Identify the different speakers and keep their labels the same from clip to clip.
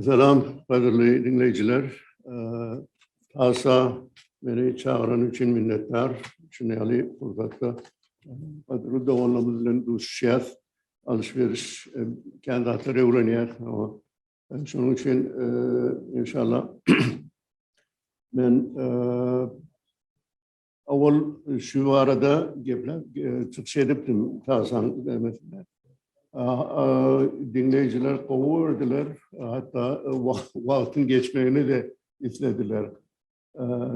Speaker 1: Salam, gadyrly diňleýjiler. Asa meni çagyrany üçin minnetdar. Şuny ýaly pursatda gadyrly doganlarymyz bilen duşuşýas. Alyş-beriş, kän zatlary öwrenýäs. Şonuň üçin inşallah men Owal şu barada geplep çykyş edipdim Tagsan demesinde. Diňleýjiler gowy gördüler, hatda wagtyň geçmegini de islediler.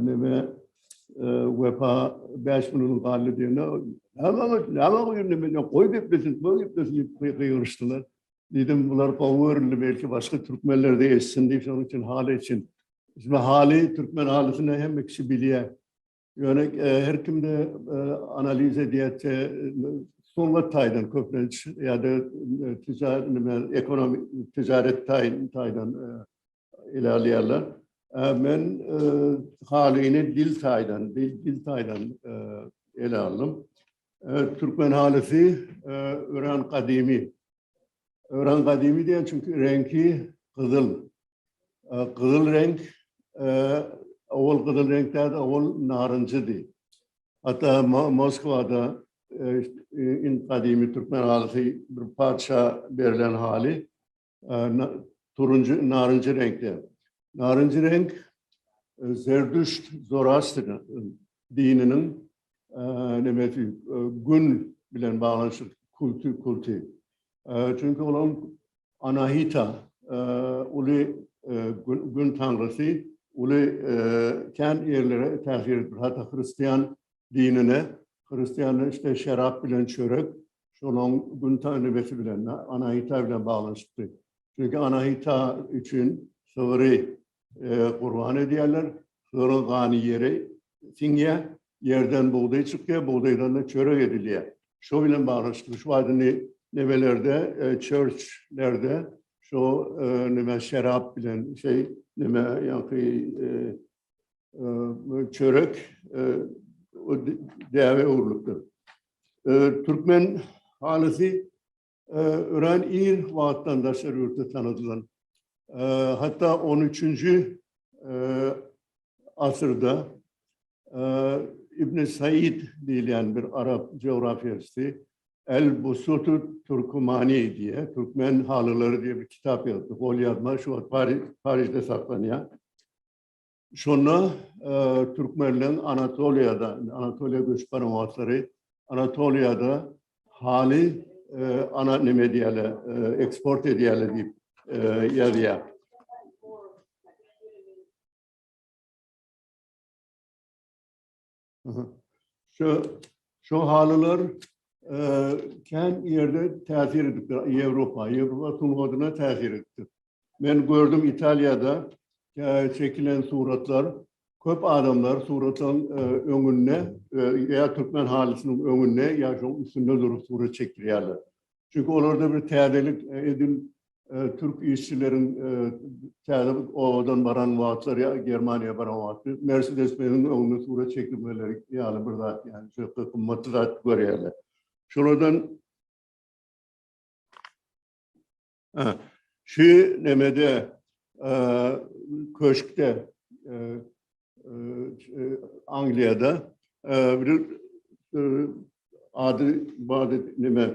Speaker 1: Neme Wepa 5 minut galdy diýende, "Näme, näme goýun men goý geplesin, goý geplesin" diýip gygyryşdylar. Diýdim, bular gowy görüldi, belki başga türkmenler de eşitsin diýip, şonuň üçin haly üçin Şimdi hali, Türkmen halisini hemme kişi bilýär. Ýöne e, her kimde e, analiz edýärçe sungat taýdan köplenç ýa-da e, ticaret nime ekonomi ticaret taýdan taýdan e, ele alýarlar. E, men e, halyny dil taýdan, dil, dil taýdan e, ele aldım. E, türkmen halysy e, ören gadymy Öran gadymy diýen çünki reňki gyzyl. Gyzyl reňk owal gyzyl reňk däl, owal narynjydy. Hatda Moskwada in gadymy türkmen halysy bir parça berlen haly turunjy narynjy reňkde. Narynjy reňk Zerdüşt Zoroastriýa dininiň nemesi gün bilen baglanyşyk kulti kulti. Çünki olaryň Anahita uly gün tanrysy uly kän ýerlere täsir edip hatda hristian dinine hristianlar işte şerap bilen çörek şolaň gün tanrysy bilen Anahita bilen baglanyşykly. Çünki Anahita üçin sygyry gurban edýärler. Sygyryň gany ýere siňýär, ýerden bugdaý çykýar, bugdaýdan-da çörek edilýär. Şo bilen baglanyşykly şu wagt indi nemelerde, çörçlerde şo neme şerap bilen şeý neme ýa-da çörek däbe öwrülipdir. Türkmen halysy Örän ir wagtdan daşary ýurtda tanadylan, hatda on üçünji asyrda Ibn Said diýilýän bir arap geografiýasy El-Busutu Turkumani diýýär, Türkmen halylary diýip bir kitap ýazdy. Golýazma şu wagt Parižde saklanýar. Şonda türkmenleň Anatoliýada, Anatoliýa göçüp baran wagtlary Anatoliýada haly ana neme diýýärler, eksport edýärler diýip ýazýar. Şu şu halylar e, kän ýerde täsir edipdir. Ýewropa, Ýewropa sungatyna täsir edipdir. Men gördüm Italiýada e, çekilen suratlar köp adamlar suratlaryň e, öňünde e, ýa türkmen halysynyň öňünde ýa şoň üstünde durup surat çekdirýärler. Çünki olarda bir täzelik e, edil Türk işçileriň täze obadan baran wagtlary ýa Germaniýa baran wagty Mercedes Benziň öňünde surat çekilmeleri ýaly bir zat ýaly şol gymmatly zat görýärler. Şolardan şu nemede köşkde Angliýada bir ady bady neme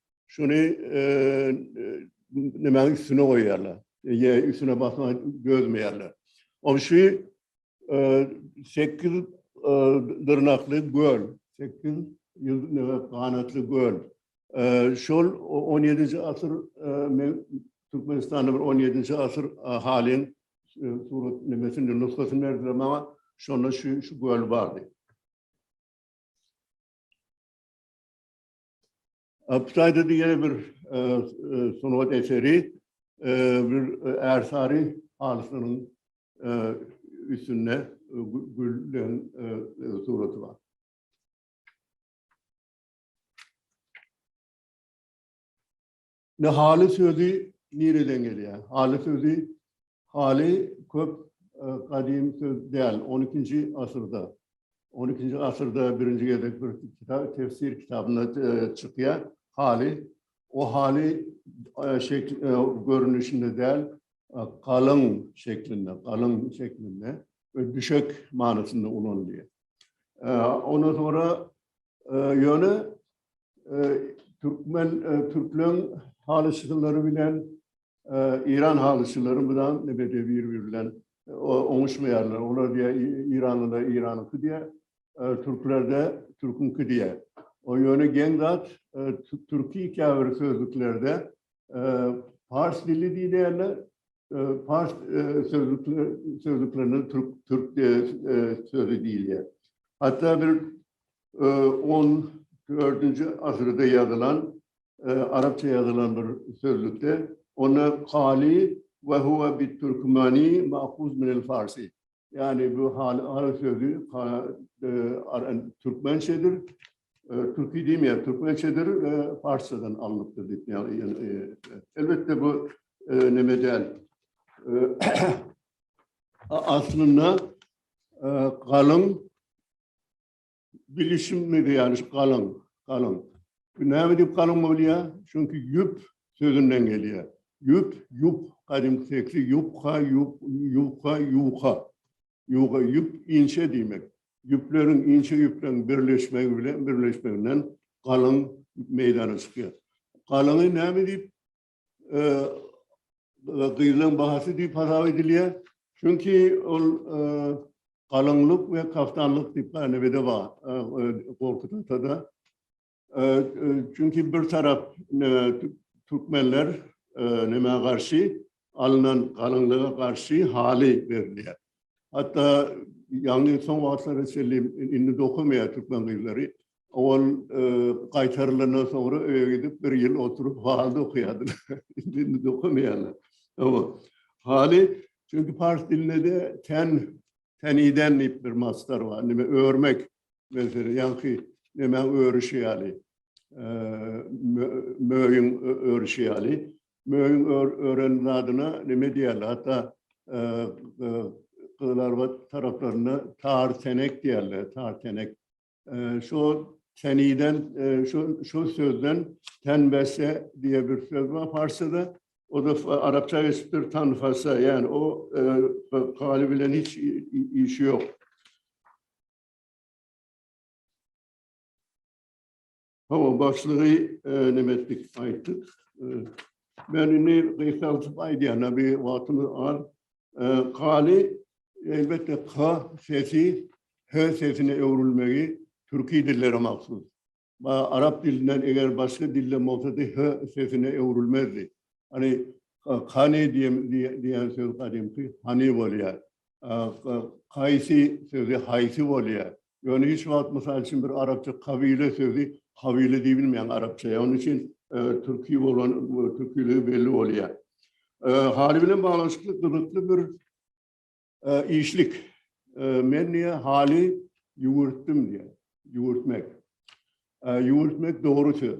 Speaker 1: Şuny nämäniň üstüne goýýarlar. Ýe, üstüne basma gözmeýärler. Ol şu sekiz dyrnakly göl, sekiz ýüz ganatly göl. Şol 17-nji asyr men Türkmenistanda bir 17-nji asyr halin surat nimesini nusgasyny berdiler maňa. Şonda şu göl bardy. Apsayda diýen bir e, e, sungat eseri e, bir ersary halysynyň üstünde güllen suraty bar. Ne haly sözi nireden gelýär? Haly sözi haly köp e, gadymy söz däl. 12-nji asyrda 12-nji asyrda birinji gezek bir kitap tefsir kitabynda e, çykýar. Haly o haly e, şekil e, görnüşinde däl, e, galyň şeklinde, galyň şeklinde we düşek manysynda ulanylýar. E, ondan sonra e, ýöne Türkmen, türkmen halyçylary bilen İran halyçylary bilen nebede bir bilen oňuşmaýarlar. Olar diýe İranlylar İranyňky diýe, türklerde türküňki diýe. O ýöne geň zat türki käbir sözlüklerde pars dili diýilýärler, Pars sözlüklerinde türk sözi diýilýär. Hatda bir XIV-nji asyrda ýazylan, arapça ýazylan bir sözlükde onda kali we huwa bit-türkmani mahuz minel farsi. Ýagny bu haly sözi türkmençedir. Türki diýmeýär, türkmençedir, parsçadan alnypdyr diýip, ýagny elbetde bu neme däl. Aslynda galyň Bilişim mede ýaly şu galyň, galyň. Bu näme diýip galyň bolýar? Çünki ýüp sözünden gelýär. Ýüp, ýup, gadymky tekli ýupka, ýup, ýuka, ýuka. Ýuga, ýüp, inçe diýmek. Ýüpleriň, inçe ýüpleriň birleşmegi bilen, birleşmeginden galyň meýdana çykýar. Galyňy näme diýip gyzylaň bahasy diýip hasap edilýär. Çünki ol galyňlyk we kaftanlyk diýip gänibede bar. Gorkut atada. Çünki bir tarap türkmenler nämä garşy alnan galyňlyga garşy haly berilýär. Hatda ýaňy soň wagtlara çenli indi dokamaýar türkmen gyzlary. Ol gaýtarylandan soňra öýe gidip bir ýyl oturyp hal dokaýardylar. Indi dokamaýarlar. Hawa. Haly çünki pars dilinde ten teniden diýip bir masdar bar. Nime örmek mesele ýaňky neme örüşi ýaly. Möýün örüşi ýaly. Möýüň ören zadyna neme diýerler? Hatda Gyzylarbat taraplarynda tar tenek diýerler, tar tenek. Şo teniden, şo şo sözden tenbese diýe bir söz bar parsçada. O da arapça geçipdir tanfasa, ýani o galy bilen hiç işi ýok. Hawa, başlygy neme etdik, aýtdyk. Men indi gysgaldyp aýdýana bir wagtymy az. Galy, elbetde, K sesi H sesine öwrülmegi türki dillere mahsus. Ba, arap dilinden eger başga dilden bolsady, H sesine öwrülmezdi. Hani, kani diýen, diýen söz gadymky hani bolýar. Kaýsi sözi haýsy bolýar. Ýöne hiç wagt mysal üçin bir arapça kabile sözi habile diýip bilmeýäň arapça. Ýa onuň üçin türki bolan türkiligi belli bolýar. Haly bilen baglanyşykly gyzykly bir işlik. Men diýe haly ýüwürtdim diýe. Ýüwürtmek. Ýüwürtmek dogry söz.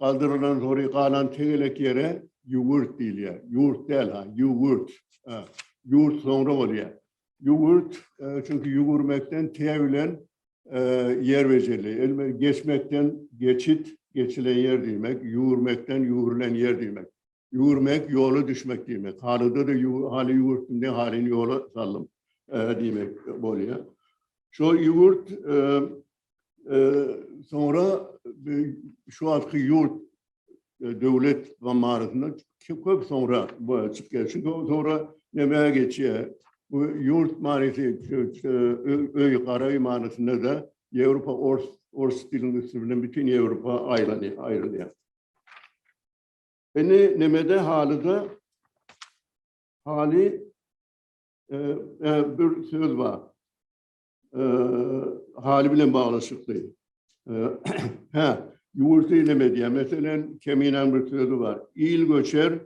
Speaker 1: Galdyrylan hory galan tegelek ýere ýüwürt diýilýär. Ýurt däl, ha, ýüwürt. A, ýurt soňra bolýar. Ýüwürt, e, çünki ýüwürmekden tä bilen e, ýer bejerli. Elbe geçmekden geçit, geçilen ýer diýmek, ýüwürmekden ýüwrülen ýer diýmek. Ýüwürmek, ýola düşmek diýmek. Halyda-da haly ýüwürtdim diýip, halyny ýola saldym diýmek bolýar. Şo ýüwürt soňra şu wagtky ýurt döwlet zammarasynda köp soňra çykyp geldi. Çünki soňra näme geçýär? Bu ýurt manysy öý, garaý manysynda-da Ýewropa ors, ors diliniň üsti bilen bütin Ýewropa aýlanýar, aýrylýar. Indi nemede halyda haly e, e, bir söz bar. E, haly bilen baglaşykly. E, ha, ýurt ilim edýär. Meselen, Keminen bir sözi bar. Il göçer,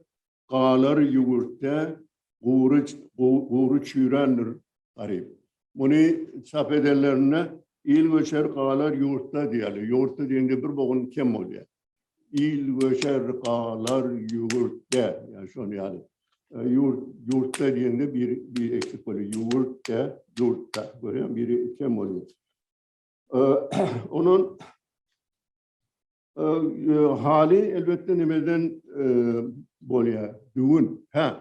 Speaker 1: galar ýurtda, Gury gury çüýrändir garyp. Muny çap edenlerinde Il göçer, galar ýurtda diýýärler. Ýurtda diýende bir bogun kem bolýar. Il göçer, galar ýüwürtde. Ýa şony ýaly. Ýurt, ýurtda diýende bir bir eksik bolýar. Ýüwürtde, ýurtda. Görýäňmi? Biri kem bolýar. Ondan Haly elbetde nimeden bolýar? Düwün. Hä.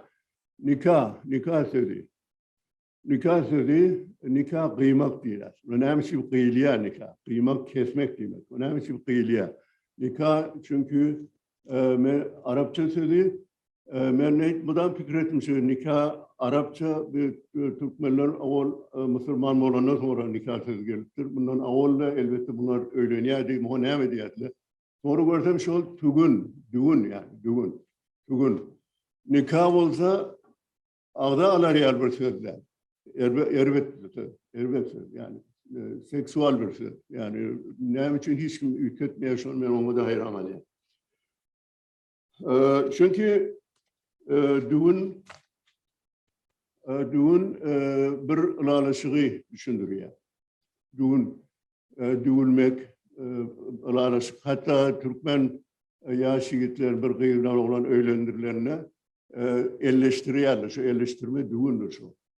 Speaker 1: Nika, nika sözi. Nika sözi nika gyýmak diýýär. Bu näme üçin gyýylýar nika? Gyýmak kesmek diýmek. Bu näme üçin gyýylýar? Nika çünki men arapça sözi Men neýt mydam pikir etdim şu nika arapça türkmenler owal musulman bolandan soňra nika sözi gelipdir. Mundan owalda elbetde bular öýlenýärdi, muňa näme diýerdiler. Soňra görsem şol tügün, dügün ýaly, dügün, tügün. Nika bolsa agza alarýar bir söz däl. Erbet bir söz, erbet söz ýaly. Seksual bir söz. Ýaly näme üçin hiç kim üýtgetmeýär şony men oňa-da haýran galýan. Çünki düwün düwün bir ylalaşygy düşündürýär. Düwün düwülmek ylalaşyk. Hatta türkmen yaş yigitler bir gyzdan oglan öýlendirlende elleştirýärler. Şu elleştirme düwündür şu.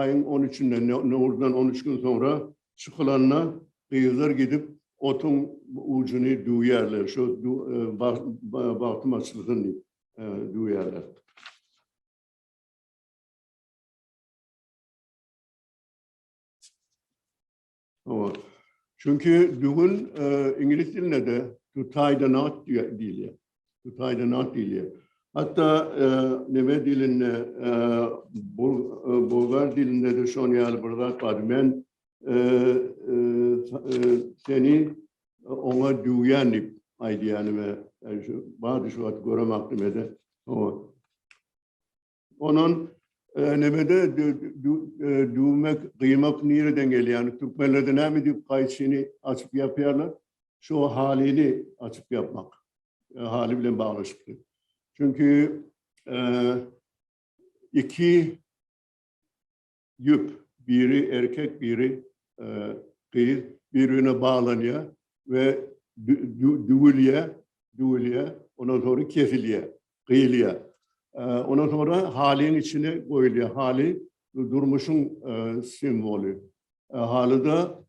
Speaker 1: aýyň on üçünde, Nowruzdan on üç gün soňra çykylanda gyzlar gidip otuň ujuny düwýärler. Şo bagtym açylsyn diýip düwýärler. Çünki dügün iňlis dilinde-de to tie the knot diýilýär. To tie the knot diýilýär. Hatda neme dilinde, bulgar dilinde-de şoň ýaly bir zat bar. Men seni oňa düwýän diýip aýdýanime, bady şu wagt göremokdym ede. Ondan nebede düwmek, gyýmak nireden gelýär? Türkmenlerde näme diýip gaýçyny açyp ýapýarlar? Şu halyny açyp ýapmak. Haly bilen baglaşykly. Çünki iki Ýüp, biri erkek, biri gyz, bir-birine baglanýar we düwülýär, düwülýär, ondan soňra kesilýär, gyýylýar. Ondan soňra halyň içine goýulýar. Haly durmuşyň simwoly. Halyda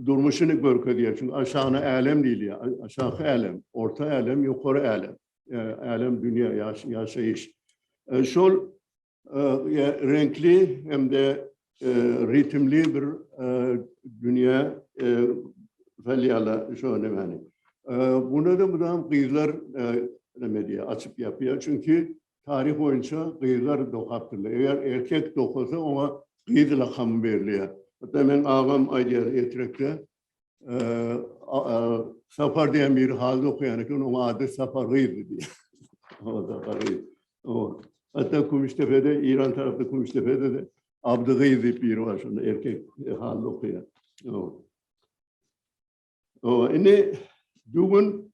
Speaker 1: durmuşyny görkezýär. Çünki aşagyna älem diýilýär. Aşaky älem, orta älem, ýokary älem. Älem, dünýä, ýaşaýyş. Şol reňkli hem-de ritmli bir dünýä salýarlar şo nämäni. Buna-da mydam gyzlar näme diýýär, açyp ýapýar. Çünki Taryh boýunça gyzlar dokapdyrlar. Eger erkek dokasa, oňa gyz lakamy berilýär. Hatda meň agam aýdýar, Ertirekde Sapar diýen biri haly dokaýan eken, onuň ady Sapar gyzdy diýýär. Ol Sapar gyz. Hatda Kümüşdepede, Eýran tarapda Kümüşdepede-de Abdy gyz diýip biri bar, şonda erkek haly dokaýar. Indi düwün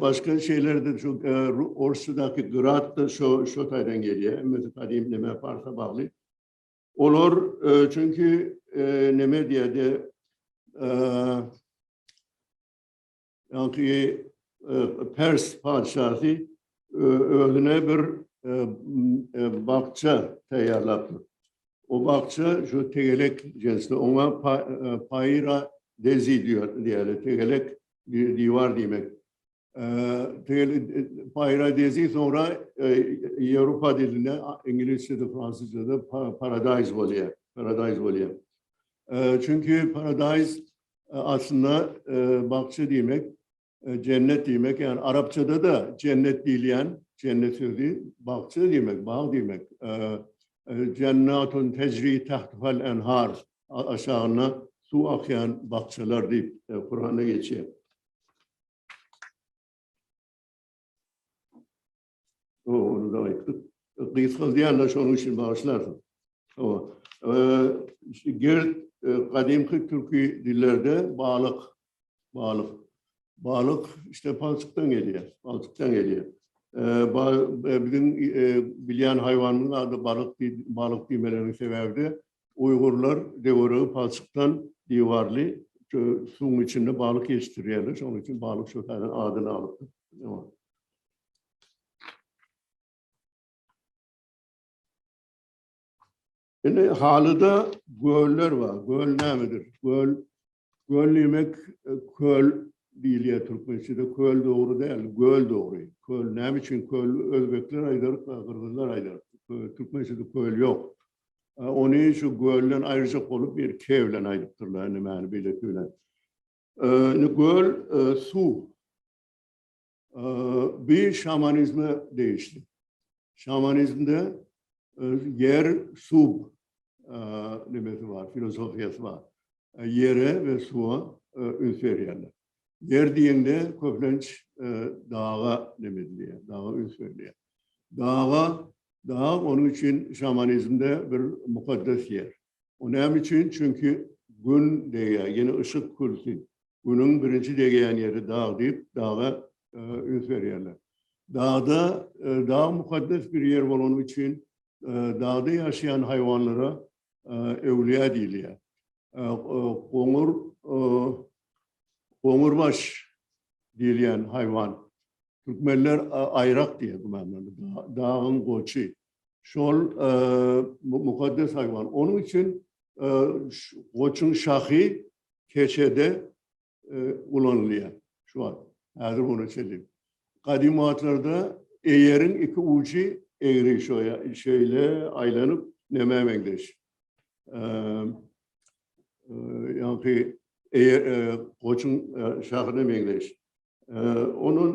Speaker 1: Başga şeylerde şu Orsçadaky gyrat da şu şu taydan gelýär. Hemmesi kadim neme farsa bagly. Olar çünki neme diýdi? Ýa-ki Pers patyşasy özüne bir bakça taýýarlapdyr. O bakça şu tegelek cinsli oňa paýra dezi diýýärler. Tegelek bir divar diýmek. Paýradezi soňra Ýewropa dilinde, iňlisçede, fransuzçada paradaýz bolýar. Paradaýz bolýar. Çünki paradaýz aslynda bakja diýmek, jennet diýmek, ýagny arapçada da jennet diýilýän, jennet sözi bakja diýmek, bag diýmek. Jennatun tejri tahtuhal enhar. aşagyna suw akýan bakjalar diýip Kuranda geçýär. O, onu da aýtdyk. Gysgaldýan-da şonuň üçin bagyşlarsyň. O, e, gerd e, gadymky türki dillerde balyk Balyk. Balyk işte palçykdan gelýär. Palçykdan gelýär. E, e, biziň e, bilýän haýwanymyzyň ady balyk balyk diýmeleriniň sebäbi de uýgurlar döweregi palçykdan diwarly suwuň içinde balyk ýetişdirýärler. Şonuň üçin balyk şu taýdan adyny alypdyr. Indi halyda göller bar. Göl nämedir? Göl göl diýmek e, köl diýilýär türkmençede. Köl dogry däl, göl dogry. Köl näme üçin köl? Özbekler aýdar, gyrgyzlar aýdar. Türkmençede köl ýok. E, ony şu gölden aýryjak bolup bir ke bilen aýdypdyrlar, indi mäni beýleki bilen. E, indi göl e, suw. Bu şamanizme degişli. Şamanizmde ýer, suw nimesi bar, filozofiýasy bar. Ýere we suwa üns berýärler. Ýer diýende köplenç daga neme edilýär, daga üns berilýär. Daga, dag onuň üçin şamanizmde bir mukaddes ýer. Bu näme üçin? Çünki Gün degýär, ýene yşyk külsi. Günüň birinji degýän ýeri dag diýip, daga üns berýärler. Dagda, dag mukaddes bir ýer bolany üçin dagda ýaşaýan haýwanlara öwlüýä diýilýär. Goňur, goňurbaş diýilýän haýwan. Türkmenler aýrak diýýär, dagyň goçy. Şol mukaddes haýwan. Onuň üçin goçuň şahy keçede ulanylýar. Şu wagt, häzir muny çelik. Gadymy wagtlarda eýeriň iki ujy egri şoýa, şeýle aýlanyp, nämä meňzeş? Ýaňky goçuň şahyna meňzeş. Onuň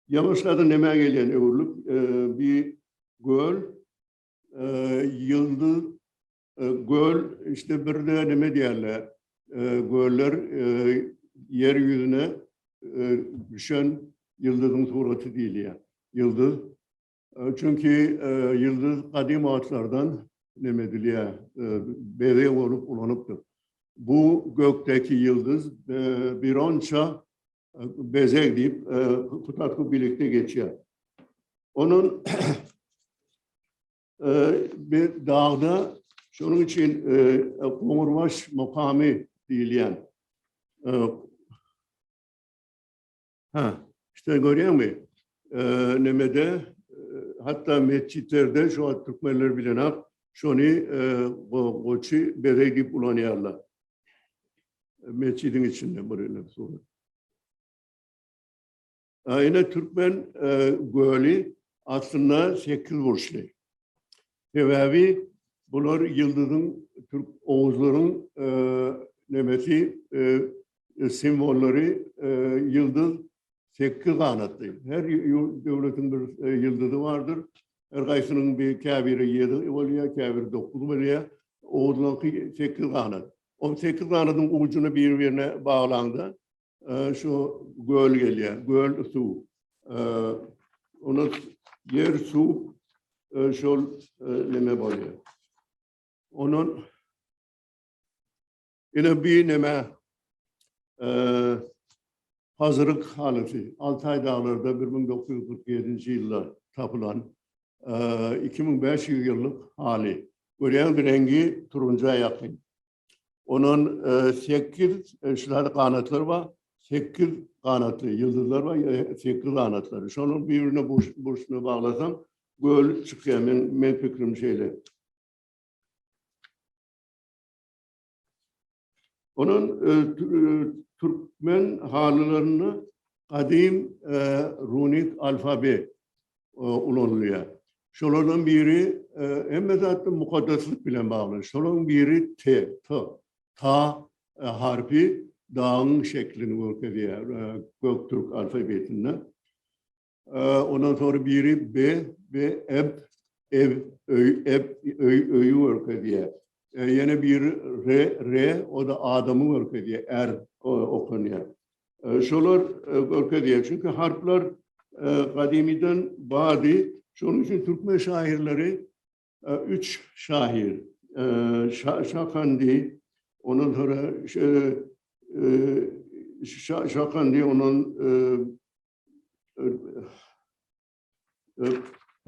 Speaker 1: Ýaňyşlardan nämä gelýän öwrülip, bi göl, ýyldyz, göl, işte birde neme diýerler, göller ýer ýüzüne düşen ýyldyzyň suraty diýilýär. Ýyldyz, Çünki ýyldyz gadym wagtlardan neme edilýär, bezeg bolup ulanypdyr. Bu gökdäki ýyldyz bironça bezeg diýip tutatgu bilikde geçýär. Onuň bir dagda şonuň üçin Goňurbaş mukamy diýilýän Ha, işte görýäňmi? Nemede hatta metjitlerde şu wagt türkmenler bilenap şony goçy bereg diýip ulanýarlar. Metjidiň içinde bir ele surat. Aýna türkmen göli aslynda sekiz burçly. Sebäbi bular ýyldyzyň türk oguzlaryň nemesi simwollary ýyldyz sekiz ganatly. Her döwletiň bir ýyldyzy bardyr. Her gaýsynyň bir käbiri ýedi bolýar, käbiri dokuz bolýar. Oguzlaryňky sekiz ganat. Ol sekiz ganadyň ujyny bir-birine baglaňda şu göl gelýär. Göl suw. Ony ýer suw şol neme bolýar. Onun ine bir neme hazırlık halyfy Altay dağlarda 1947-nji ýylda tapylan 2500 ýyllyk haly. Görýäňiz reňgi turunja ýakyn. Ondan sekiz şular ganatlar bar. Sekiz ganatly ýyldyzlar bar, sekiz ganatlar. Şonuň birine burçuna baglasaň, göl çykýar. Men men pikrim şeýle. Onuň türkmen halylarynda gadym runik alfabet ulanylýar. Şolardan biri hemme zatda mukaddeslik bilen bagly. Şolaryň biri T, T. Ta harpy dagyň şeklini görkezýär gök türk alfabetinde. Ondan soňra biri B, B, eb, ev, öý, eb, öý, öýi görkezýär. Ýene biri R, R, o da adamy görkezýär, er okunýar. Şolar görkezýär. Çünki harplar gadymydan bardy. Şonuň üçin türkmen şahyrlary üç şahyr Şakandy, ondan sonra Şakandy, ondan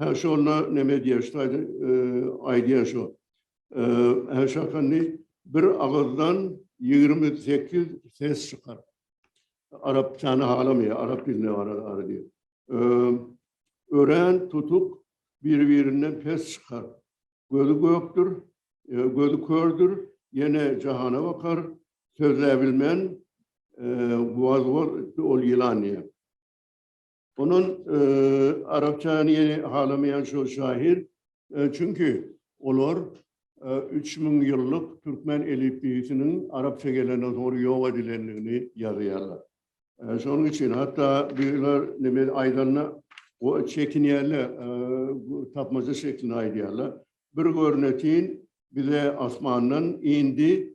Speaker 1: Hä şu onda neme diýýär, şu taýda aýdýan şu. Hä şu hakynda bir agyzdan 28 ses çykar. Arapçany halamaýar, arap dilinde ara diýip. Örän tutuk bir-birinden pes çykar. Gözi gökdür, gözi kördür, ýene jahana bakar, sözläbilmän, waz-waz ol ýylan diýýär. Ondan arapçany ýene halamaýan şol şahyr, çünki olar üç müň ýyllyk türkmen elipbiýsiniň arapça gelenden soň ýok edilendigini ýazýarlar. Şonuň üçin hatda birler neme aýdanda çekinýärler, tapmaja şeklinde aýdýarlar. Bir görnetin, bize asmandan indi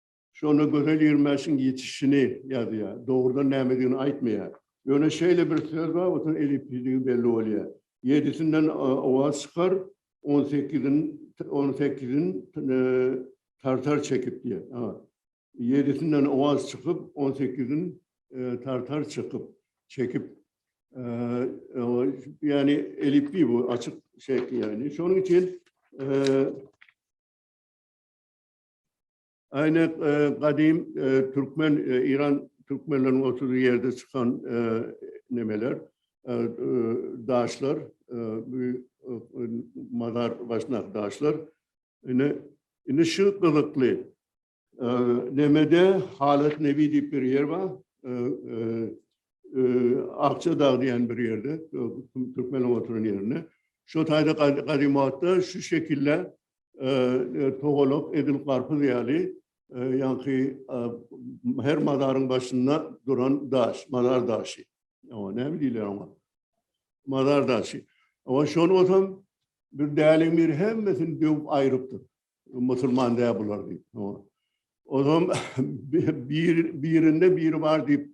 Speaker 1: Şonda Gözel Ýermäşiň ýetişişini ýazýar. Dogrudan nämedigini aýtmaýar. Ýöne şeýle bir söz bar, otuň elipbiýdigi belli bolýar. Ýedisinden owaz çykar, on sekizin on sekizin tartar çekip diýýär. A. Ýedisinden owaz çykyp, on sekizin tartar çykyp, çekip. Ýagny elipbiý bu açyk şekli ýagny. Şonuň üçin Aýna gadym türkmen Iran türkmenleriniň oturdygy ýerde çykan nemeler daşlar mazar başnak daşlar ine indi şu gyzykly nemede halat nebi diýip bir ýer bar Akça dağı diýen bir ýerde türkmenler oturan ýerinde şu taýda gadym wagtda şu şekilde Togalak edil garpyz ýaly, ýaňky her mazaryň başynda duran daş, mazar daşy. Oňa näme diýler oňa? Mazar daşy. Oňa şony bolsam bir däliň biri hemmesini döwüp aýrypdyr. Musulman däl bular diýip. Ozam bir birinde biri bar diýip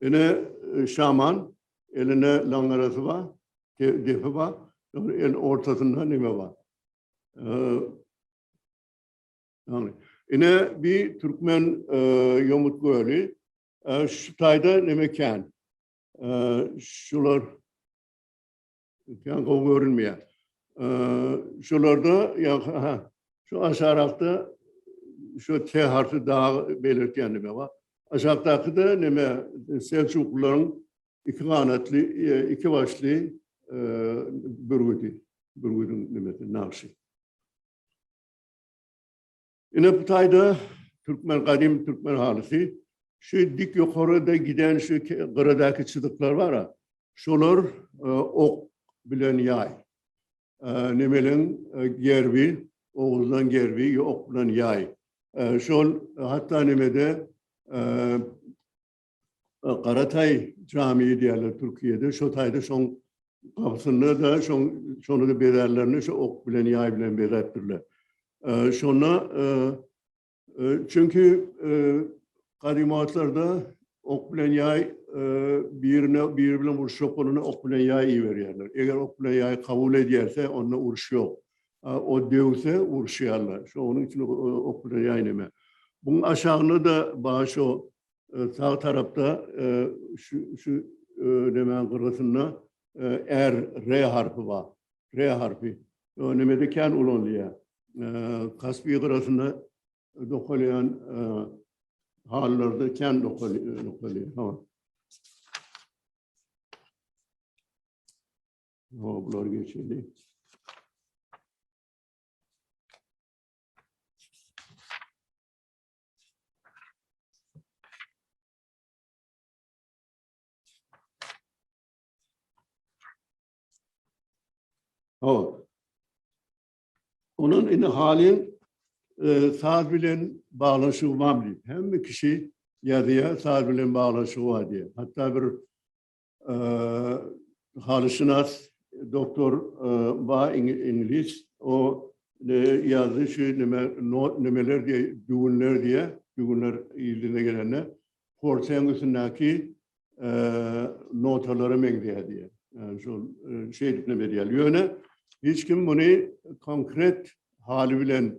Speaker 1: Ine şaman eline langarasy bar, depi bar, el ortasynda neme bar. Yani, ine bir Türkmen e, yomut gölü, e, şu tayda neme kän, e, şular, Ötýän gowy görünmeýär. Şolarda ýa-ha şu aşarakda şu T harfi dagy belirtýän neme bar? Aşakdaky-da neme Selçuklylaryň iki ganatly, iki başly bürgüdi. Bürgüdiň nemesi, nagşy. Ine bu taýda türkmen gadymy türkmen halysy şu dik ýokaryda giden şu gyradaky çyzyklar bar-a, şolar e, ok bilen ýaý. E, Nemeleň e, gerbi, Oguzlaň gerbi ok bilen ýaý. Şol hatda nemede Garataý jamy diýerler Türkiýede. Şo taýda şoň gapysynda da şoň şony da bezärlerini şu ok bilen ýaý bilen bezäpdirler. Şonda çünki gadymy wagtlarda ok bilen ýaý birine biri bilen uruşjak bolanda ok bilen ýaý iberýärler. Eger ok bilen ýaý kabul edýärse, onda uruş ýok. O döwse uruşýarlar. Şonuň üçin ok bilen ýaý näme. Buň aşagynda da baş o Sag tarapda şu şu nemäň gyrgysynda R, R harpy bar. R harpy. O nemede kän ulanylýar. Kaspi gyrasynda dokalýan hallarda kän dokalýar. No, bular geçeli. O. Onun indi halin e, saz bilen bağlaşığı var mı? Hem kişi yazıya saz bilen bağlaşığı var diye. Hatta bir halyşynas doktor ba iňlis o ýazdy şu nime nimeler diýe düwünler diýe düwünler ýylyna gelende porsiýaň üstündäki notalara meňzeýär diýe şol şeýdip ne berýär ýöne hiç kim muny konkret haly bilen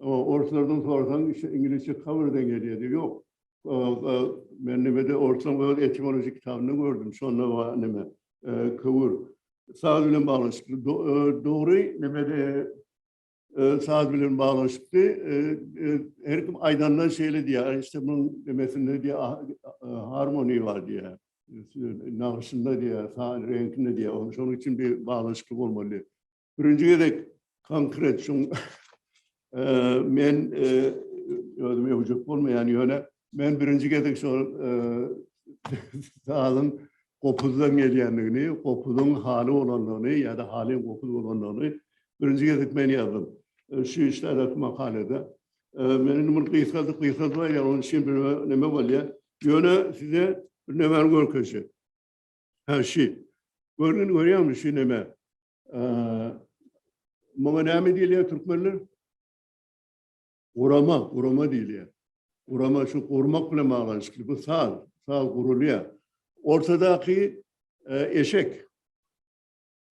Speaker 1: Orslardan sorasaň iňlisçe cover deň gelýärdi. Ýok. Men nimede orslan öz etimologik kitabynda gördüm. Şonda bar nime. Köwür. Saz bilen baglanyşykly. Dogry nimede saz bilen baglanyşykly. Her kim aýdanda şeýle diýýär. Işte munuň nimesinde diýýär harmony bar diýýär. Nagşynda diýýär, reňkinde diýýär. Şonuň üçin bir baglanyşykly bolmaly. Birinji gezek konkret şu men özüme hüjük bolmaýan ýöne men birinji gezek şol sazyň gopuzdan gelýändigini, gopuzyň haly bolandygyny ýa-da halyň gopuz bolandygyny birinji gezek men ýazdym. Şu işlerdäki makalada. Men indi muny gysgaldyp gysgaldyp aýdýan, onuň üçin bir näme bolýar. Ýöne size bir nämäni görkezjek. Hä şu. Görgün görýäňmi şu näme? Muňa näme diýilýär türkmenler? Gurama, gurama diýilýär. Gurama şu gurmak bilen baglanyşykly. Bu saz, saz gurulýar. Ortadaky e, eşek.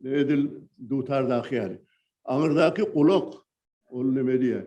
Speaker 1: Edil dutardaky ýaly. Aňyrdaky gulak. Ol näme diýýär?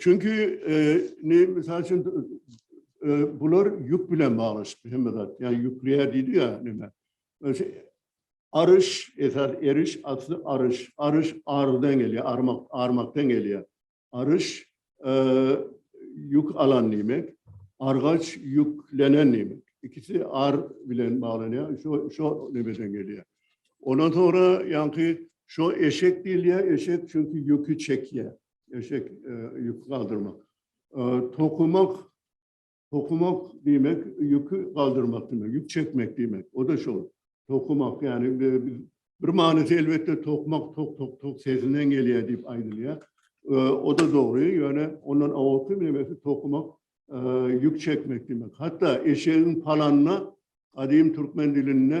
Speaker 1: Çünki ne misal üçin bular ýük bilen baglaşyp hemme zat. Ýa ýükleýär diýdi ýa näme. Aryş, esas eriş asly aryş. Aryş ardan gelýär, armak, armakdan gelýär. Aryş ýük alan diýmek. Argaç ýüklenen diýmek. İkisi ar bilen baglanýar. Şo şo nebeden gelýär. Ondan sonra ýaňky şu eşek diýilýär, eşek çünki ýüki çekýär. Eşek ýüki galdyrmak. Tokumak Tokumak diýmek ýüki galdyrmak diýmek, ýük çekmek diýmek. O da şol. Tokumak ýagny bir manysy elbetde tokmak tok tok tok sesinden gelýär diýip aýdylýar. O da dogry, ýöne ondan awalky meňesi tokumak ýük çekmek diýmek. Hatda eşegiň palanyna gadym türkmen dilinde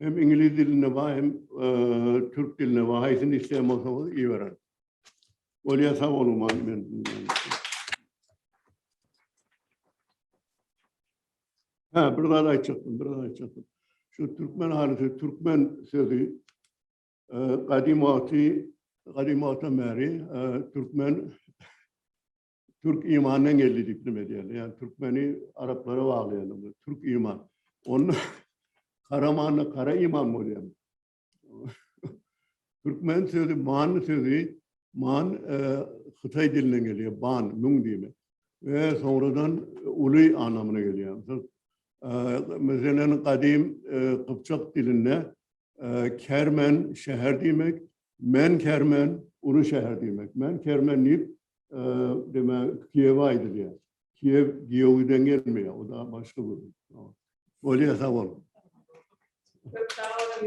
Speaker 1: Hem iňlis dilinde bar, hem türk dilinde bar. Haýsyny isleýän bolsaňyz ibereň. Bolýa sag boluň maňa men. Ha, bir zat aýtjakdym, bir zat aýtjakdym. Şu türkmen halysy, türkmen sözi gadymy wagty, gadymy wagtdan bäri türkmen Türk imandan geldi diýip nime diýýärler. Ýani türkmeni araplara baglaýanlar. Türk iman. Onda kara many kara iman bolýar. Türkmen sözü man sözü man e, Hytaý dilinden gelýär. Ban, müň diýmek. Ve sonradan uly anlamına geliyor. E, Mesela kadim e, Kıpçak dilinde e, kermen şehir demek, Men Kermen, uly şäher diýmek. Men Kermen diýip, demek, Kiýewe aýdylýar. Kiýew Giýewiden gelmeýär, o da başga bir. Bolýa, sag bol. Köp sag boluň.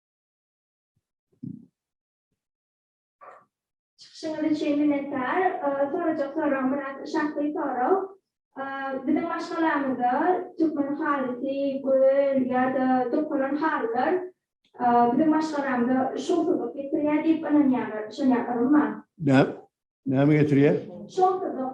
Speaker 2: Çykyşyňyz üçin minnetdar. Sorajak soragym biraz şahsy sorag. Biziň maşgalamyzda türkmen halysy, göl ýa-da dokalan halylar biziň maşgalamyza şowsuzlyk getirýär diýip ynanýarlar. Düşünýärsiňizmi? Näme
Speaker 1: getirýär? Şowsuzlyk.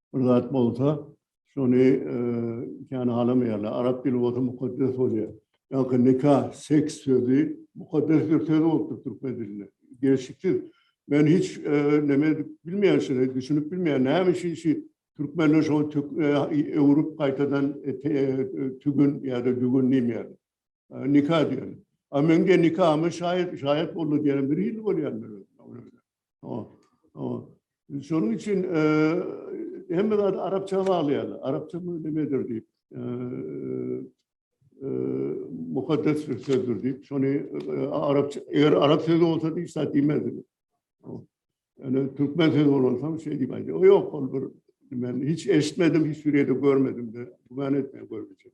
Speaker 1: bir zat bolsa, şony kän halamaýarlar. Arap dili bolsa mukaddes bolýar. Ýa-da nika, seks sözi mukaddes bir söz bolupdyr türkmen dilinde. Gelşiksiz. Men hiç näme bilmeýän şeýle, düşünip bilmeýän. Näme üçin şu türkmenler şo öwrüp gaýtadan tügün ýa-da dügün diýmeýärler. Nika diýerler. A men de nikama şaýat, şaýat boldy diýenim bir hili bolýar. Şonuň üçin hemme zady arapça baglaýarlar. Arapça nimedir diýip, mukaddes bir sözdür diýip, şony arapça, eger arap sözi bolsa hiç zat diýmezdi. Ýöne türkmen sözi bolansoň şeý diýip aýdýar. O ýok, ol bir men hiç eşitmedim, hiç bir ýerde görmedim de, güman etmeýän görmejek.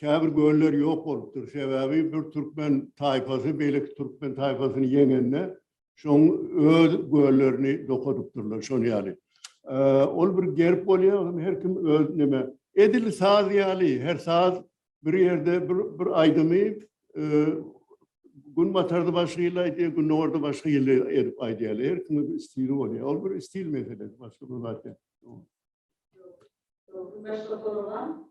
Speaker 1: Käbir göller ýok bolupdyr. Sebäbi bir türkmen taýpasy beýleki türkmen taýpasyny ýeňende, şoň öz göllerini dokadypdyrlar, şon ýaly. Ol bir gerb bolýar, ony her kim öz neme. Edil saz ýaly, her saz bir ýerde bir bir aýdymy günbatarda başga hili aýdýar, gündogarda başga hili edip aýdýarlar. Her kimiň bir stili bolýar. Ol bir stil meselesi, başga bir zat däl. Başga soralam?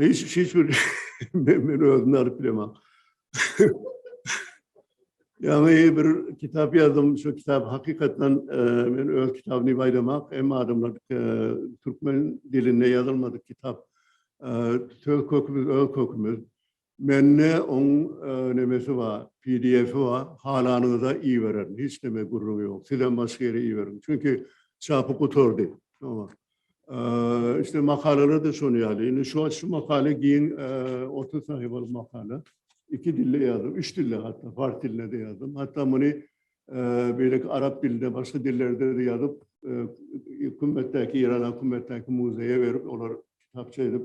Speaker 1: Hiç, hiç bir men, men özümi alyp bilemok. Ýaňy bir kitap ýazdym, şu kitap hakykatdan e, men öz kitabyny baýlamak, hem adamlar e, türkmen dilinde ýazylmadyk kitap. E, söz kökümüz, öz kökümüz. Mende oň nemesi bar pdf-i bar halanyňyza ibererin hiç neme gürrüňi ýok sizem başga ýere iberiň çünki çapy gutardy oňar işte makalalarda şony ýaly indi şu şu makala giň otuz sahypalyk makala iki dilde ýazyp üç dilde hatda fars dilinde de ýazdym hatda muny beýleki arap dilinde başga dillerde de ýazyp kümmetdäki ýerana kümmetdäki muzeýe berip olar kitapça edip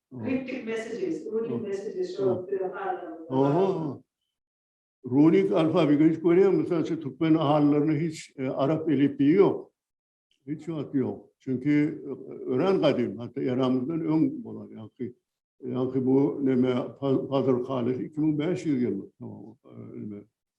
Speaker 3: Runic messages, runic messages şo döwür halylarymyzda.
Speaker 1: Runic alfabeti hiç görýäňmi? Mysal üçin türkmen halylarynda hiç e, arap elipbiýi ýok. Hiç wagt ýok. Çünki e, örän gadym, hatda eramyzdan öň bolan ýaňky ýaňky bu neme Fazl Halis 2500 ýyllyk tamam e, neme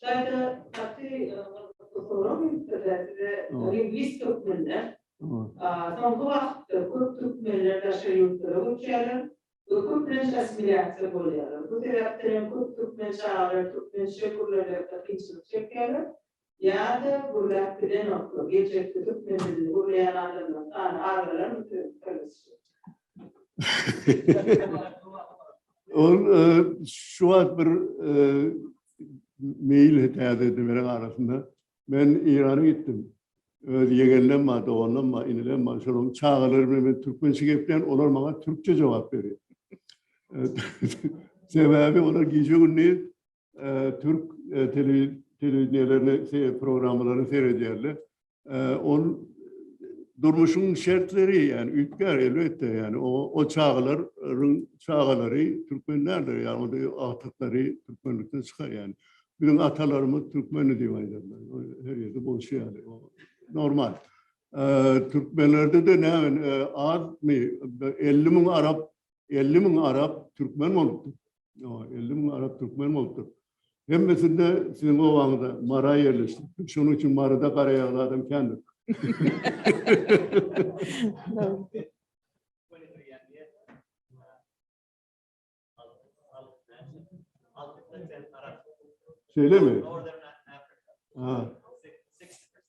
Speaker 3: Şaýda gaty soraw beripdirler size lingwist hökmünde. Soňky wagtda köp türkmenler daşary ýurtlara göçýärler we köplenç assimilýasiýa bolýarlar. Bu sebäpden hem köp türkmen çagalar türkmençe gürlemekde kynçylyk çekýärler. Ýa-da gürläp bilenokmy, geljekde türkmen dilini gürleýän adamlaryň
Speaker 1: sany azalarmy söz kyrgyzça? Ol şu wagt bir meýil täze edinleriň arasynda men Eýrana gitdim. Öz ýegenlerim bar, doganlarym bar, inilerim bar. Şolaryň çagalary bilen men türkmençe gepleýän, olar maňa türkçe jogap berýär. Sebäbi olar gije-gündiz türk telewideniýelerine programmalaryny seredýärler. Ol durmuşyň şertleri, ýani üýtgär elbetde, ýani o çagalaryň çagalary türkmen däldir, ýagny agtyklary türkmenlikden çykar, ýani biziň atalarymyz türkmendi diýip aýdarlar, her ýerde bolşy ýaly, normal. Türkmenlerde-de näme azmy, elli müň arap, elli müň arap türkmen bolupdyr. Ýa, elli müň arap türkmen bolupdyr. Hemmesinde siziň obaňyzda Mara ýerleşdi. Şonuň üçin Maryda garaýagly adam kändir. Şeýlemi? Ha.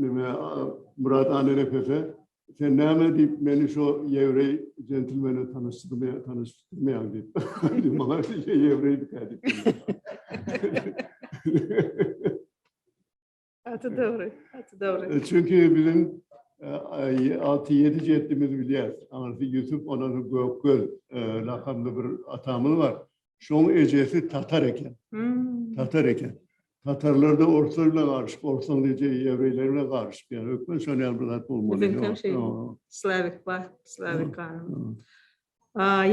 Speaker 1: Nime Murat Anenefese sen näme diýip meni şu ýewreý jentlmene tanyşdyrmaýar, tanyşdyrmaýar diýip. Maňa ýewreý diýip. Atı dogry, atı dogry.
Speaker 3: E, çünki biziň
Speaker 1: 6-7 e, jeddimiz bilýär. Aňyrsy Ýusup, onany Gökgöl e, lakamly bir atamyz bar. Şoň ejesi tatar eken. Tatar eken. Tatarlar da orslar bilen garyşyp, orsaň eje ýewreýler bilen garyşyp ýa hökman şoň ýaly bir zat bolmaly. Biziň hem şeý. Slawik
Speaker 3: bar, slawik ganym.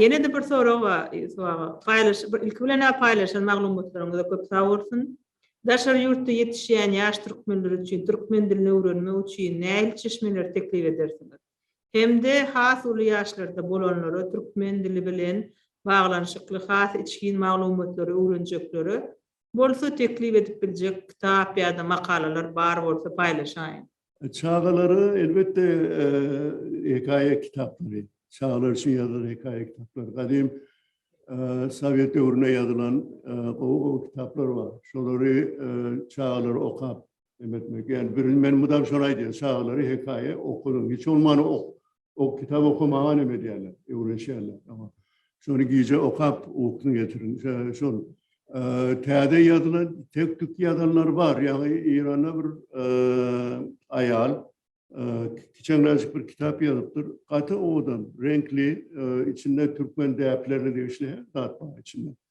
Speaker 3: Ýene de bir sorag bar, Ýusuf aga. Paýlaş, ilki bilen ä paýlaşan maglumatlaryňyza köp sag bolsun. Daşary ýurtda ýetişýän ýaş türkmenler üçin türkmen dilini öwrenmek üçin nähili çeşmeleri teklip edersiňiz? hem-de has uly ýaşlarda bolanlara türkmen dili bilen baglanyşykly has içgin maglumatlary öwrenjeklere bolsa teklip edip biljek kitap ýa-da makalalar bar bolsa paýlaşaýyň. Çagalara
Speaker 1: elbetde hekaýa kitaplary, çagalar üçin ýazylan hekaýa kitaplary, gadym sowet döwründe ýazylan gowy-gowy kitaplar bar. Şolary çagalar okap Emetmek yani birini men mudam şony aýdýan çagalary hekaýa okadyň hiç bolmany ok ok kitap okamaga neme edýärler öwrenişýärler ama şony gije okap ukyny getirin şol täze ýazylan tek tük ýazanlar bar ýaňy Eýranda bir aýal kiçeňräjik bir kitap ýazypdyr gaty owadan reňkli içinde türkmen däplerine degişli zat bar içinde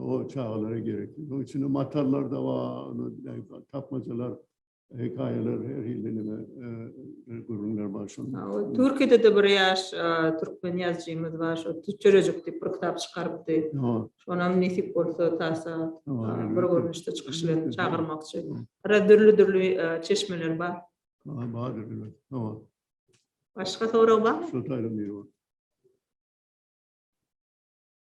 Speaker 1: O çagalara gerekli. Onun içinde matarlar da var, tapmacalar, hikayeler, her hilde nime e, e, gürrüňler bar şunda. O Türkiye'de de bir
Speaker 3: yaş e, Türkmen yazıcımız var. Şu Tüçerecik deyip bir kitap çıkarıptı. Ýa, Şonam nesip olsa tasa ýa, e, bir elbetde. görünüşde çıkış bilen çağırmakçı. Biraz dürlü dürlü e, çeşmeler bar. Ýa, bardyr, elbet.
Speaker 1: Ýa, Başka
Speaker 3: soru var mı? şu taýdan biri bar.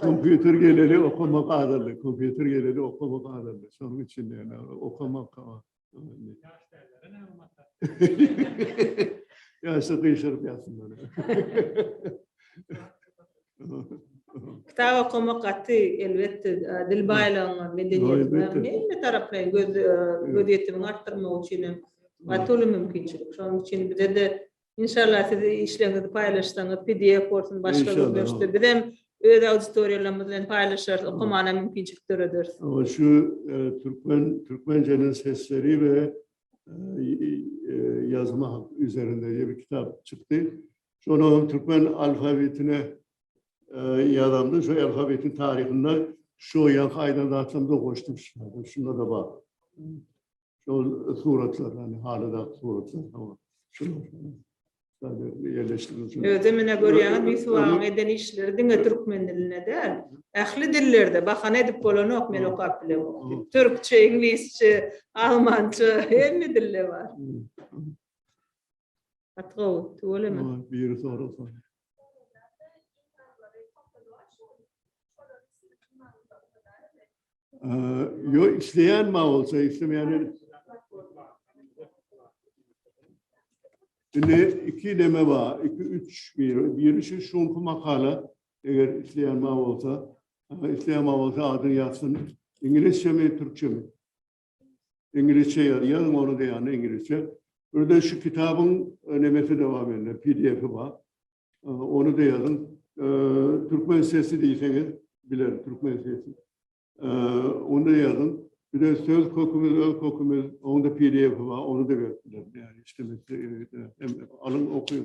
Speaker 1: Kompýuter geleli okama gazandy. Kompýuter geleli okama gazandy. Şonuň üçin ýöne okama galan. Ya şu kıyışırıp yatsın böyle.
Speaker 3: Kitap okumak gaty elbetde dil baýlygynyň medeniýetiň hemme taraplaýyn göz göz ýetimini artdyrmak üçin hem gaty uly mümkinçilik. Şonuň üçin bize de Inşallah siz işleriňizi paýlaşsaňyz pdf bolsun başga görnüşde bizem öz auditoriýalarymyz bilen paýlaşarys okamana mümkinçilik dörederis. Ol şu
Speaker 1: türkmen türkmenceniň sesleri we ýazma üzerinde diýip bir kitap çykdy. Şonu hem türkmen alfabetine ýazamda şu alfabetiň taryhynda şu ýa haýdan zatlarymyza goşdum. Şunda da bar. Şol suratlar, hani halyda suratlar, hava. Şunlar. Sadece yerleştirmek için. Özü mine görýäňiz,
Speaker 3: Bisuwagyň eden işleri diňe türkmen dilinde däl. Ähli dillerde bahana edip bolanok, men okap bilemok. Türkçe, iňlisçe, almança, hemme dilde bar. Gaty gowy, tüweleme. Aa, biri sorasa.
Speaker 1: Aa, yo isleýän ma bolsa, islemeýän el- Indi iki neme bar, iki üç biri. Biri şu şunky makala, eger isleýän ma bolsa, aa, isleýän ma bolsa adyny ýazsyn. Iňlisçemi, türkçemi? Iňlisçe ýazýan ony da ýa-da iňlisçe. Birden şu kitabyň nemesi de bar mende, PDF-i bar. Ony da ýazyň. Türkmen sesi diýseňiz biler, türkmen sesi. Onda ýazyň. Bir de söz kökümiz, öz kökümiz, onda PDF-i bar, onu da berip bilerin. Ýagny işlemek hem alyň, okyň.